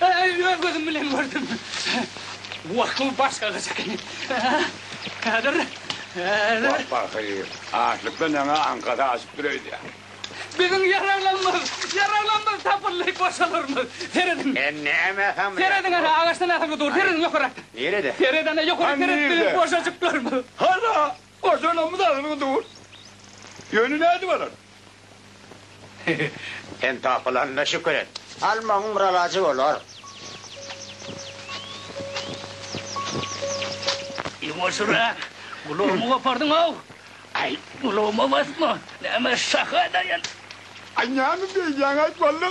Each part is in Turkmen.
Äý, öz gözüm bilen gördüm. Bu akyl başga gyz ekeni. Häzir, häzir. Wah, pahyr, açlykdan ýaňa aňkasy aşyp dur öýdýä. Biziň ýaraglanymyz, ýaraglanymyz tapyldy, goşalarymyz. Serediň. Sen näme samyýasyň? Serediň, ana, agaçdan asylgy dur, serediň ýokarakda. Nirede? Sered, ana, ýokary seret, biziň goşajyklarymyz. Hala! Goşalamyz agyr dur. Ýöne nädip alar? Sen tapylanyna şükür et. Almagyň bir alajy bolar. Ýuwaşyrak! Gulagymy gopardyň-ow! Aý, gulagyma basma! Näme şaha edaýan? Aý, näme beýdýäň-aý, walla?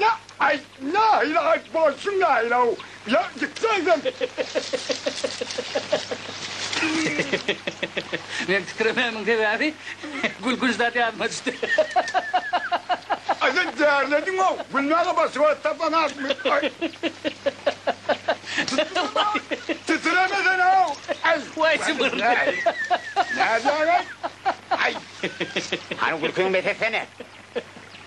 La ay la la ay bolsun la la la gitseydin. Meň tükremämiň sebäbi gülkünç zat ýadyma düşdi. Aýda därlediňow gülmäge başga wagt tapanakmy ay. Titiremesene-ow ay. Way jybyr. Nädýäň ay ay. Hany gülkiňi bes etsene.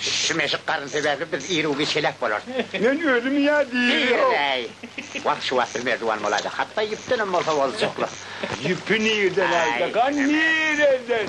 Şu meşik garyn sebäpli biz ir-u-giç heläk bolarys. Men özüm ýa diýrem. Wah, şu wagt bir merdiwan bolaýsa, hatda ýüpdenem bolsa boljaklyk. Ýüpi nireden aljak-a, nireden?